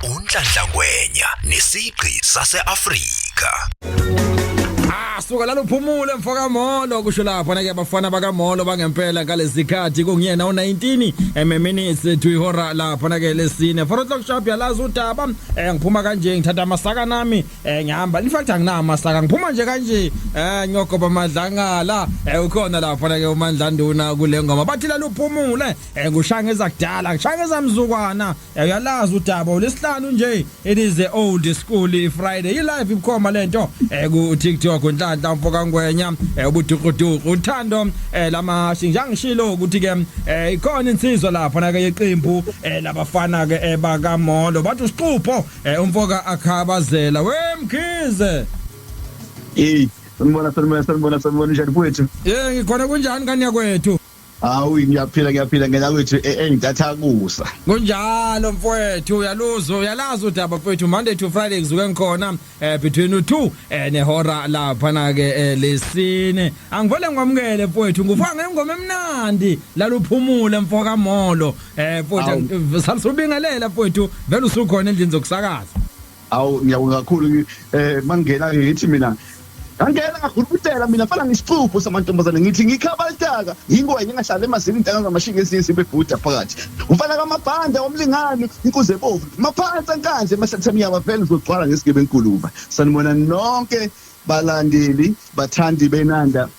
Unhlanhla Ngwenya nesigqi sase-Afrika. Ah, suka lalo phumule mfoka Molo kusho lapho na ke bafana baka Molo bangempela ngalezikhathi kungiyena u19 ememinutes to ihora lapho na ke lesine 4 o'clock sharp yalazi udaba eh ngiphuma kanje ngithatha amasaka nami eh ngihamba in fact angina amasaka ngiphuma nje kanje eh ngiyogoba amadlangala eh ukhona lapho na ke uMandla Nduna kule ngoma bathi lalo phumule Eh ngushanga ezakudala, ngishanga ezamzukwana. Eh, uyalazi udaba olesihlanu nje. It is the old school Friday. I live ibukhoma lento. Eh ku TikTok unhlanhla umfoka ngwenya, eh ubudukuduku uthando eh lama singangishilo ukuthi ke eh ikhona insizwa lapha na ke yeqembu eh labafana ke ebaka Molo. Bathi usiqupho eh umfoka akhabazela. We mkhize. Hey, sanibona sanibona sanibona sanibona njani kwethu? Eh ngikhona kunjani kanya kwethu? Hawu ngiyaphila ngiyaphila ngena kwethu e, engidatha kusa. Kunjalo mfowethu uyaluzwa uyalazi udaba mfowethu Monday to Friday kuzuke ngikhona eh between u2 eh nehora lapha na ke eh, lesine. Angivele ngamukele mfowethu ngufa ngengoma emnandi laluphumule mfoka Molo eh mfowethu salusubingelela mfowethu vele usukhona endlini zokusakaza. Awu ngiyabonga kakhulu ngi- eh mangena ke ngithi mina ngangena ngurubutela mina fana ngisixubhu samantombazane ngithi ngikhabaltaka yingwenya engahlale emazini intanga zamashinga ezinye zibebhuda phakathi ufana kamabhanda omlingani inkuze bovu maphansi ankandle emahlathini yaba vele uzogcwala ngesigebe enkuluba sanibona nonke balandeli bathandi benanda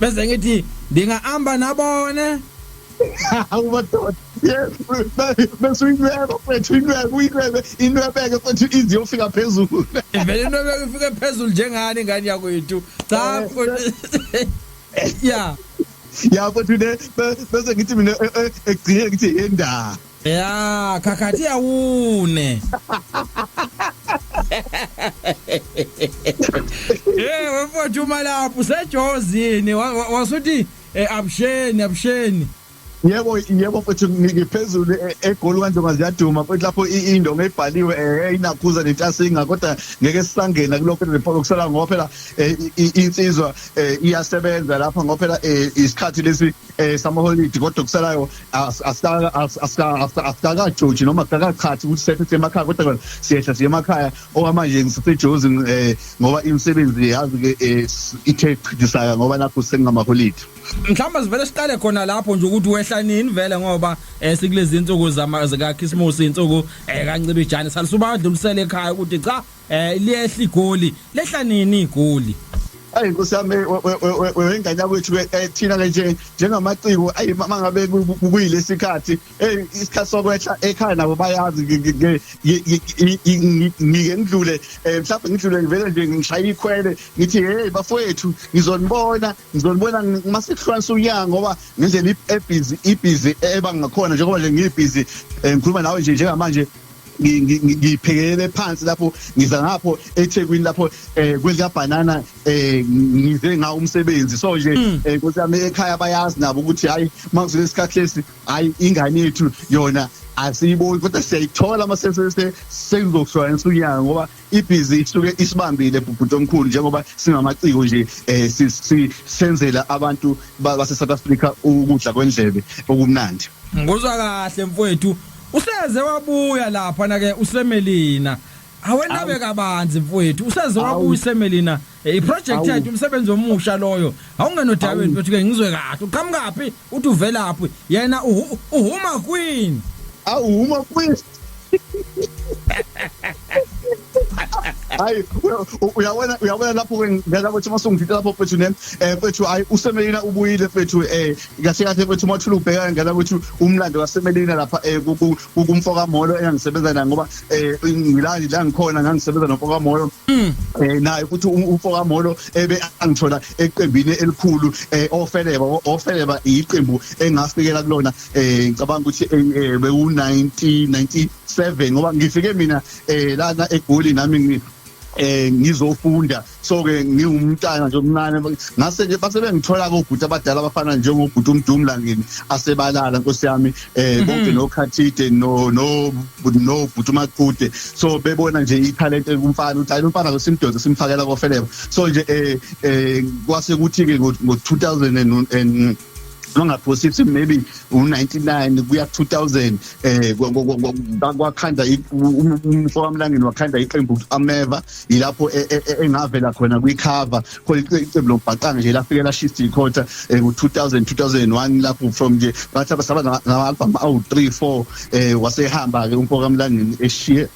bese ngithi ndingahamba nabone umadoda yes bese uyinceba mfethu incebe uyincebe inwebeke mfethu izi yofika phezulu vele inwebeke ifike phezulu njengani ngani yakwethu cha eh, ya ya mfethu ne bese ngithi mina eh, eh, ekugcineni ngithi yendaba ya khakhathi awune Eh wemfowethu uma lapho usejozini wa- wa- wasuthi eh, abusheni abusheni yebo yebo mfethu ngiphezulu e- egoli kwanjengoba ziyaduma futhi lapho i- indonga ebhaliwe eh, inakhuza nentasinga kodwa ngeke sisangena kulokho report okusala ngoba phela eh, i- i- insizwa eh, iyasebenza lapha ngoba phela eh, isikhathi lesi eh, samaholidi kodwa okusalayo asikakajoji noma sikakachathi ukuthi sethe siyemakhaya kodwa kona siyehla siye emakhaya okwamanje ngisesejozi um eh, ngoba imisebenzi yazi-ke um eh, ithe chidisaka ngoba nakho sengingamaholide mhlawumbe sivele siqale khona lapho nje ukuthi wehla nini vele ngoba um sikulezi nsuku zikakhisimusi iy'nsuku um kancibijane salisuba adlulisele ekhaya ukuthi cha Eh liyehla igoli, lehla nini igoli? ayi nkosi yami wengane yakwethu eh, thina ke nje njengamaciko ayi uma ngabe kuyilesi khathi hey isikhathi sokwehla ekhaya nabo bayazi ngike ngidlule eh, mhlawumbe ngidlule ngivele nje ngishaya ikhwele ngithi hey bafowethu ngizonibona ngizonibona uma sekuhlukanisa unyaka ngoba ngendlela ebhizi ibhizi ebangakhona njengoba nje ngiyibhizi eh, ngikhuluma nawe nje njengamanje ngiphekelele phansi lapho ngiza ngapho eThekwini lapho eh kwelika banana eh ngize nga umsebenzi so nje mm. eh kuthi ame ekhaya bayazi nabo ukuthi hayi makuzile isikhathi lesi hayi ingane yethu yona asiyiboni kodwa siyayithola uma sesese sengizokushwayela unyanga ngoba ibhizi isuke isibambile bhuti omkhulu njengoba singamaciko nje eh sisenzela abantu base South Africa ukudla kwendlebe okumnandi ngozwa kahle mfowethu useze wabuya lapha na ke usemelina awenabe kabanzi mfowethu useze wabuya usemelina Eh, iproject yethu umsebenzi omusha loyo awungenodabeni mfethu ke ngizwe kahle uqhamukaphi uthi uvelaphi yena uhuma queen awuhuma queen hayi uyabona uyabona lapho ke ngeke ukuthi masungithe lapho mfethu ne eh mfethu hayi usemelina ubuyile mfethu eh kahle kahle mfethu mathula ubheka ngeke ukuthi umlando wasemelina lapha eh kumfoka Molo engangisebenza naye ngoba eh ngila la ngikhona ngangisebenza nomfoka Molo mm. eh naye futhi um, umfoka Molo ebe angithola eqembini elikhulu eh ofeleba ofeleba iqembu engafikela kulona eh ngicabanga ukuthi eh, bewu 1997 ngoba ngifike mina eh lana egoli nami eh ngizofunda so ke ngiwumntana nje omncane ngase ke base bengithola kobhuti abadala abafana njengobhuti umdumla ngini asebalala nkosi yami eh mhm. bonke nokhathide no no no bhuti umaqude so bebona nje italent kumfana uthi ayi umfana simdoze simfakela kofeleba so nje eh eh kwase kuthi ke ngo 2000 and bangaphosisi maybe u-99 kuya 2000 eh kwakhanda umfo wamlangeni wakhanda iqembu ukuthi ameva yilapho e, e, e, engavela khona kwicover khona iqembu lombhaqanga nje lafike lashisa ikhotha ngo-2000 2001 lapho from nje bathi abasaba nama-albhamu awu-3 4 um wasehamba-ke umfo kamlangeni eshiye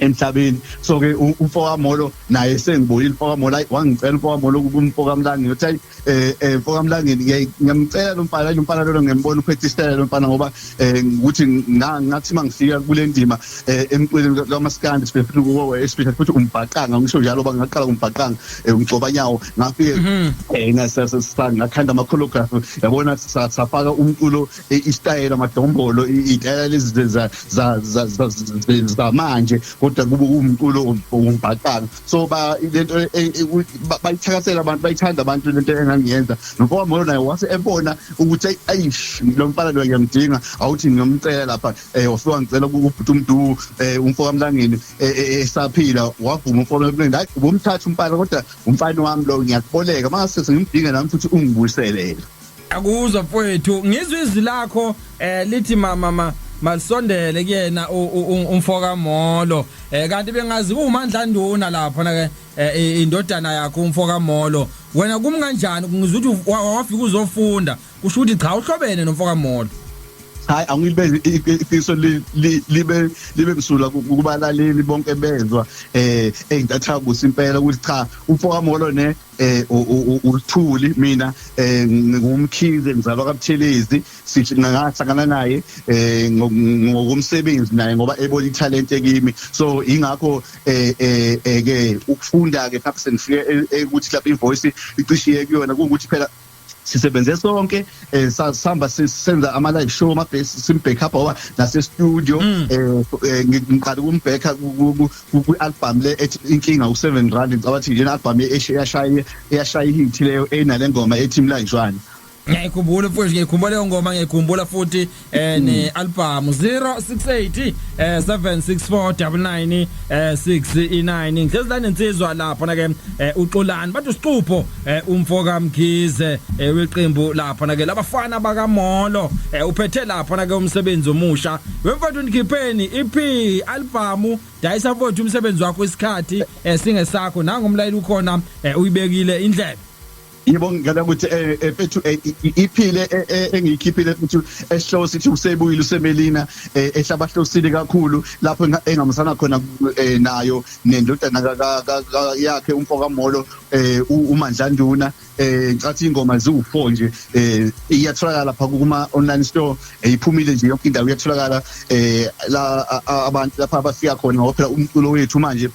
emhlabeni so ke umfoka molo naye sengibuyile umfoka molo wangicela umfoka molo kumfoka mlangeni uthi hayi eh, eh mfoka mlangeni ngiyamcela lo mfana lo mfana lona ngembona uphethe isitayela lo mfana ngoba eh, ukuthi ngathi mangifika kule ndima eh, emculweni kamaskandi sibefuna ukuwe especially futhi umbhaqanga ngisho njalo bangaqala umbhaqanga umgcoba nyawo ngafike mhm. eh ngasasanga ngakhanda ama choreography yabona safaka umculo isitayela amadombolo itayela lezi zamanje kodwa kube kuwumculo wombhaqanga so lento e, e, e, bayithakasela abantu bayithanda abantu lento engangiyenza nomfowabo moyo naye wase ebona ukuthi ayish lo mfana lo ngiyamdinga awuthi ngiyomcela lapha um wafika ngicela kubhuti umdu um umfokamlangeni esaphila wavuma umfokamlangeni hayi ubomthatha umfana kodwa umfana wami lo ngiyakuboleka mangase sengimdinga nami futhi ungibuyiselele akuzwa mfowethu ngizwe izwi lakho eh lithi mama ma malisondele kuyena umfoka Molo eh kanti bengazi kuMandla Nduna lapha na ke eh, indodana yakho umfoka Molo wena kum kanjani ngizuthi wafika uzofunda kusho ukuthi cha uhlobene nomfoka Molo hayi angilibe iqiso libe libe msula kubalaleli bonke bezwa eh engitathabusa impela ukuthi cha umfoka Molo ne eh uLithuli mina eh ngingumkhize ngizalwa kaButhelezi sithi ngahlangana naye eh ngokumsebenzi naye ngoba ebona italent ekimi so ingakho eh, eh, eh ke ukufunda ke perhaps ngifike ukuthi lapha ivoice icishiye kuyona ukuthi phela sisebenze sonke eh sihamba senza ama live show ama base sim back up owa nase studio mm. eh, eh ngiqala ukumbheka ku album le ethi inkinga u 7 rand ngicabanga ukuthi yena album eyashaya eyashaya hit leyo enale ngoma ethi mlanjwana ngiyayikhumbula futhi ngiyikhumbula leyo ngoma ngiyikhumbula futhi eh hmm. ne album 068 eh 76499 eh 69 ngihlezi la nensizwa lapho na ke eh, uxolani bathi usiqupho eh, umfo kaMkhize eh, weqembu lapho na ke labafana bakamolo uphethe lapho na ke umsebenzi omusha wemfowethu ndikhipheni EP album dayisa mfowethu umsebenzi wakho isikhathi singesakho nangu umlayeli ukhona uyibekile indlebe yebo ngicela ukuthi eh, eh, mfethu eh, iphile engiyikhiphile mfethu esihloko sithi usebuyile usemelina ehlabahlosile kakhulu lapho engamsana khona nayo nendodana yakhe umfoka molo umandlanduna eh ngicathi ingoma ziwu4 nje eh iyatholakala lapha kuma online store eh, iphumile nje yonke indawo iyatholakala eh la abantu lapha abafika khona ngoba phela umculo wethu manje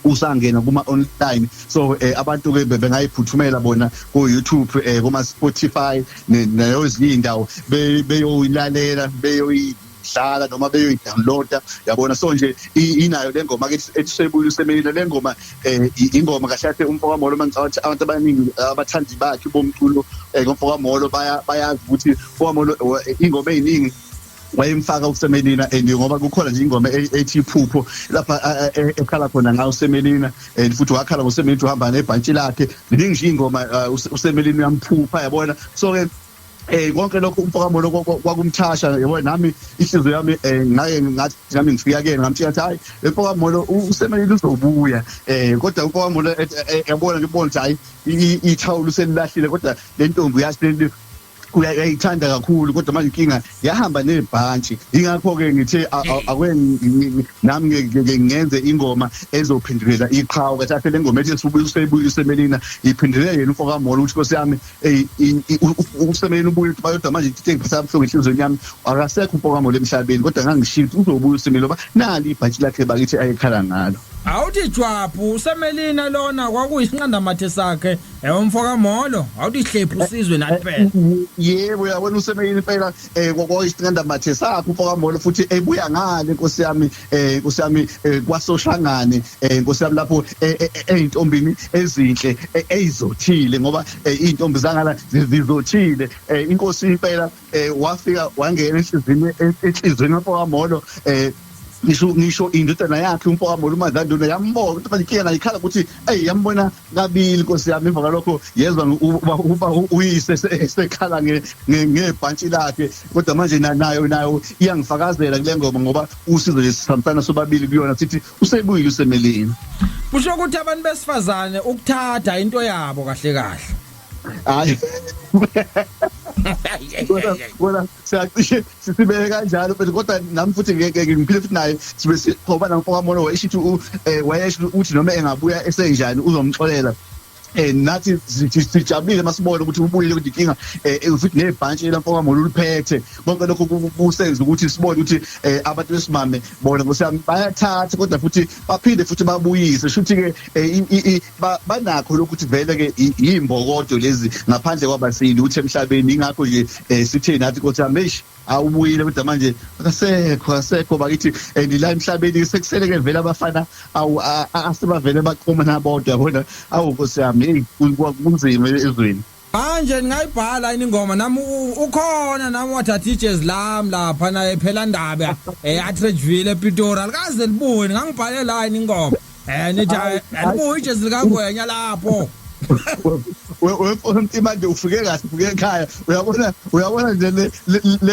usangena kuma online so eh, abantu ke bengayiphuthumela bona ku YouTube eh, kuma Spotify nayo ezinye indawo beyoyilalela beyoyi dlala noma beyoyidownloada yabona so nje inayo le ngoma ke esebuye usemeyile le ngoma eh, ingoma kahle kahle umfoka molo mangicathi abantu abaningi eh, abathandi bakhe bomculo eh, ngomfoka molo bayazi ukuthi umfoka molo ingoma eziningi wayemfaka usemelina and ngoba kukhona nje ingoma e-, ethi iphupho lapha e-, e-, ekhala khona ngayo usemelina and futhi wakhala ngosemelina ukuthi uhamba nebhantshi lakhe ziningi nje ingoma uh, usemelina uyamphupha yabona so ke eh konke lokho umfoka mono kwakumthasha yabo nami ihliziyo yami eh ngake ngathi nami ngifika kuyena ngamtshela ukuthi hayi umfoka mono usemelile uzobuya eh kodwa umfoka mono eh, eh, eh, yabona ngibona ukuthi hayi ithawula uselilahlile kodwa le ntombi uyasileli uyayithanda kakhulu kodwa manje inkinga yahamba nezibhantshi ingakho ke ngithe akweni nami ngenze ingoma ezophindulela iqhawe kathi ahle lengoma ethi sibuye usemelina iphindulela yena umfoka molo ukuthi nkosi yami usemelina ubuye ukuthi bayodwa manje into engiphatha kabuhlungu enhlizweni yami akasekho umfoka molo emhlabeni kodwa ngangishiya ukuthi uzobuya usemelina ngoba nali ibhantshi lakhe bakithi ayekhala ngalo awuthi jwabu usemelina lona kwakuyisinqandamathe sakhe Ewe mfoka Molo, awudihlephi usizwe nathi phela. Yebo yabona usemeyini phela eh kokho isinqanda mathe sakho mfoka Molo futhi ebuya ngale inkosi yami eh inkosi yami eh, kwasoshangane eh inkosi yami lapho eh, eh, eh, ezintombini ezinhle eyizothile ngoba izintombi zangala zizothile inkosi impela eh wafika wangena enhlizini enhlizini lapho kamolo eh ngisho ngisho indodana yakhe umfowabo uMadlanduna yambona ukuthi manje kuyena ikhala ukuthi ey yambona kabili Nkosi yami emva kwalokho yezwa uba uba uyise sekhala ngebhantshi lakhe kodwa manje nayo nayo iyangifakazela kule ngoma ngoba usizo nje sihambisana sobabili kuyona sithi usebuyile usemelini kusho ukuthi abantu besifazane ukuthatha into yabo kahle kahle hayi kona siyacishe sisibeke kanjalo but kodwa nami futhi ngeke ngiphile futhi naye sibe siqoba namfokamolo wayeshithi eh, wayesho ukuthi noma engabuya esenjani uzomxolela eh nathi sijabulile masibona ukuthi ubuyile ukuthi inkinga eh, eh futhi nebhantshi lamfoka molo uliphethe konke lokho kusenza ukuthi sibone ukuthi eh, abantu besimame bona bayathatha kodwa futhi baphinde futhi babuyise shuthi ke eh, banakho lokuthi vele ke yimbokodo lezi ngaphandle kwabasili uthi emhlabeni ingakho nje eh, sitheni athi kothi amesh awubuyile kodwa manje akasekho asekho bakithi and la emhlabeni sekusele ke vele abafana awu asebavele baqoma nabodwa yabona awu nkosi yami kunzima ezweni Manje ningayibhala yini ingoma nami ukhona nami wathatha ijezi lami lapha naye phela ndaba eh Atredgeville ePitori alikaze libuye ngangibhale la yini ingoma eh nithi alibuye eh, ijezi likangwenya lapho wefona umntu manje ufike kahle ufike ekhaya uyabona uyabona nje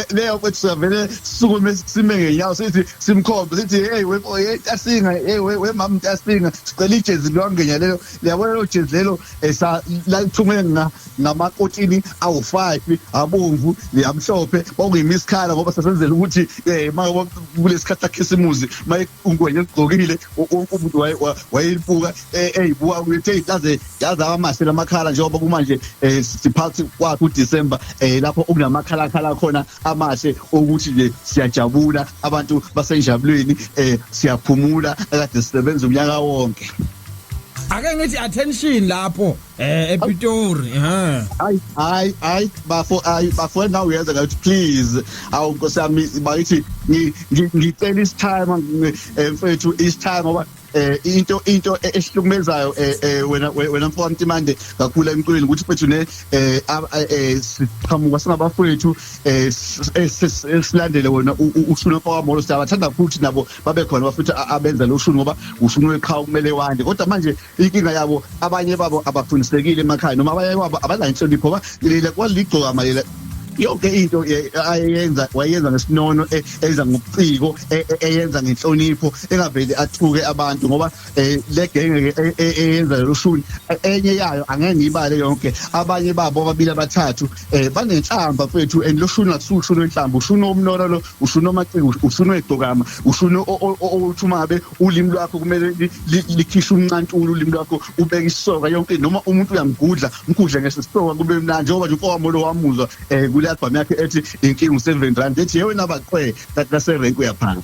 leyo kwethu siyavele sisukume sime ngenyawo sithi simkhombe sithi hey wefo hey tasinga hey wemama tasinga sicela ijezi lwangenya lelo liyabona lelo jezi lelo esa la ithunge nga ngamakotini awu5 abomvu yamhlophe okuyimi isikhala ngoba sasenzela ukuthi eh maka kulesikhathi sakhisimuzi maye ungwenye egqokile umuntu wayeyibuka eh, eyibuka ukuthi yaze yaze amahle lamakhala njengoba kumanje eh, siphathi kwakhe uDecember eh, lapho okunamakhala khala khona amahle ukuthi nje siyajabula abantu basenjabulweni siyaphumula akade sisebenza unyaka wonke ake ngithi attention lapho eh ePitori ha ay ay ay bafo ay bafo now uyenza ngathi please awu nkosi yami bayithi ngicela is time eh, mfethu is time ngoba eh into into e-, esihlukumezayo eh, eh wena wena mfowethu manje kakhulu emculweni ukuthi mfethu ne eh, eh siqhamuka singabafowethu eh, eh silandele wena ushuna mfowethu amolo siyabathanda futhi nabo babe khona bafutha abenza lo shuni ngoba ushuni weqhawe kumele wande kodwa manje inkinga yabo abanye babo abafundisekile emakhaya noma abanye babo abanayo inhlonipho ba lile kwaligcoka malela yonke into eh, ayenza wayenza ngesinono eh, enza ngobuciko eh, eyenza ngenhlonipho engaveli athuke abantu ngoba le genge eyenza loshuni enye yayo angeke ngiyibale yonke abanye babo ababili abathathu eh banenhlamba mfethu and loshuni akusuke ushuni wenhlamba ushuni omnora lo ushuni omaciko ushuni wegcokama ushuni othi umabe ulimi lwakho kumele likhishe umncantulu ulimi lwakho ubeke isoka yonke noma umuntu uyamgudla mgudle ngesisoka kube mnandi njengoba nje umfowami lo wamuzwa eh kule album yakhe ethi inkinga u7 rand ethi yewena baqwe kaserenk uyaphanga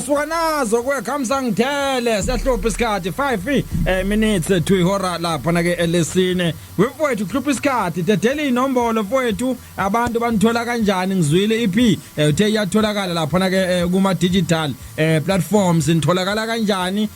suka nazo kwekhamsa ngithele siyahlupha isikhathi 5 eh, minutes eh, to ihora lapha na ke elesine wefowethu kuhlupha isikhathi dedela inombolo fowethu abantu banithola kanjani ngizwile ip e eh, uthe iyatholakala lapha na ke kuma digital platforms nitholakala kanjani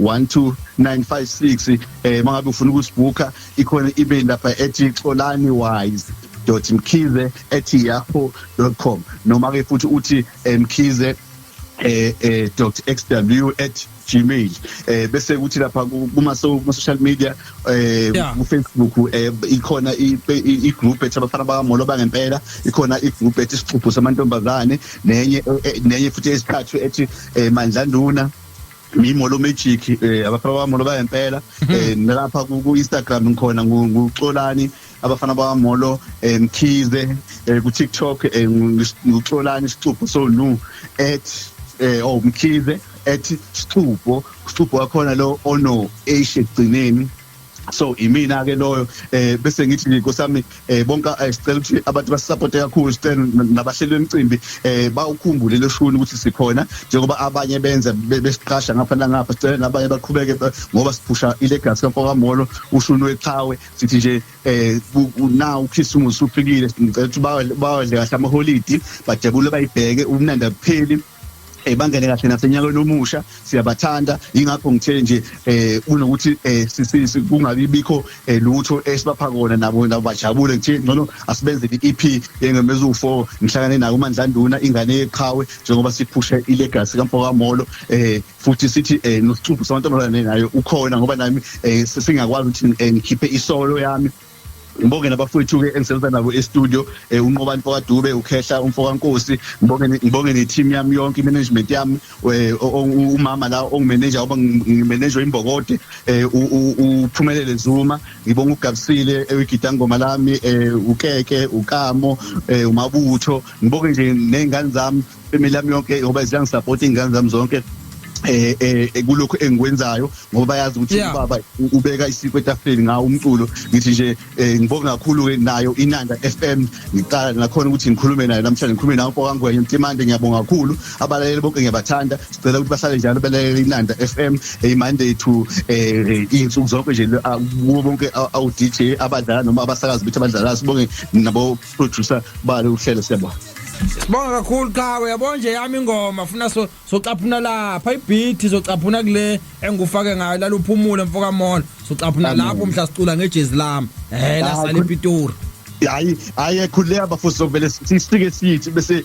12956 eh mangabe ufuna ukusibhukha ikhona email lapha ethi xolani wise mkhize at yahoo com noma ke futhi uthi eh, mkhize eh, eh xw at gmail eh bese kuthi lapha kuma social media eh ku Facebook eh ikhona i group ethi abafana bakamolo bangempela ikhona i group ethi isixubhu samantombazane nenye eh, eh, nenye futhi esiqhathwe ethi eh, mandlanduna ngiyimolo magic eh abafana bami molo bayempela mhm. eh nilapha ku Instagram ngikhona nguxolani abafana bami molo eh, mkhize eh, ku TikTok eh, nguxolani sixupho so nu at eh oh mkhize at sixupho sixupho wakhona lo ono eish egcineni so imina ke loyo eh bese ngithi nkosami eh bonke eh, sicela ukuthi abantu basisupporte kakhulu sicela nabahleli bemcimbi eh bawukhumbule loshuni ukuthi sikhona njengoba abanye benza besiqasha ngapha nangapha sicela nabanye baqhubeke eh, ngoba siphusha ilegacy kaMfoka Molo ushuni weqhawe sithi nje eh na ukhisimusi ufikile ngicela ukuthi bawadle kahle amaholidi bajabule bayibheke umnandi apheli eh bangene kahle nasenyakweni omusha siyabathanda ingakho ngithe nje eh kunokuthi eh sisisi kungabi bikho eh, lutho esibapha kona nabo nabo bajabule ngithe ngcono asibenze i-EP yengemezu 4 ngihlangane nayo uMandlanduna ingane yeqhawe njengoba siphusha ilegacy kamfoka Molo eh futhi sithi eh nosicuphu samantombazane nayo ukhona ngoba nami eh singakwazi ukuthi eh, ngikhiphe isolo yami ngibonge nabafowethu-ke engisebenza nabo estudio um eh, unqobani mfokadube ukhehla umfokankosi ngibonge ne-team yami yonke i-management yami eh, umama la ongimeneja oba ngimenejwa imbokode um uphumelele zuma ngibonge ugabisile ewigidangoma lami um ukeke ukamo um umabutho ngibonge nje ney'ngane zami family yami yonke ngoba ziyangisapota iy'ngane zami zonke eh eh kulokho engikwenzayo ngoba bayazi ukuthi Yeah. ubaba ubeka isiko etafuleni ngawo umculo ngithi nje eh, ngibonga kakhulu ke nayo inanda FM ngiqala nakhona ukuthi ngikhulume nayo namhlanje ngikhulume nawo mfoka ngwenya mtimande ngiyabonga kakhulu abalaleli bonke ngiyabathanda sicela ukuthi bahlale njalo balalela inanda FM eh, Monday to eh insuku zonke nje le- ah, kubo bonke awu DJ abadlala noma abasakazi bethu abadlala sibonge nabo producer bale uhlelo siyabona Sibonga kakhulu qhawe yabo nje yami ingoma funa so socaphuna lapha ibeat socaphuna kule engufake ngayo laluphumule mfoka mona socaphuna lapho mhla sicula ngejezi lami eh la sale Pitori hayi hayi ekhuleka bafo sovele sisike sithi bese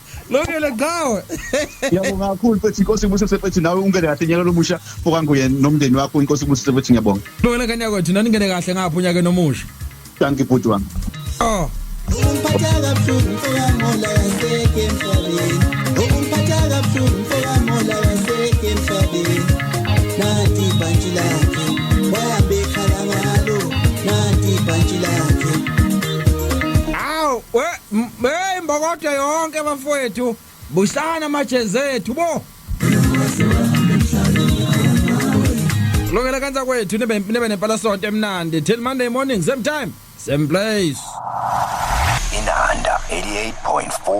Lungile Gcawe. Ngiyabonga kakhulu mfethu inkosi ibusise mfethu nawe ungene kahle nyaka lomusha fokanguye nomndeni wakho inkosi ibusise mfethu ngiyabonga. Lungile kanya kwethu nani ngene kahle ngapha unyaka nomusha. Thank you bhuti wami. Oh. Umphatha kabuhlungu fokamola yaseke emhlabeni. Umphatha kabuhlungu fokamola yaseke emhlabeni. Nanti ibhantshi lakhe wahambe ekhala ngalo. Nanti ibhantshi lakhe. Aw, we Hey mbokodo yonke bafowethu busana amajezi ethu bo Lokela kanza kwethu nebe nebe nempala sonto emnandi till Monday morning same time same place Inanda 88.4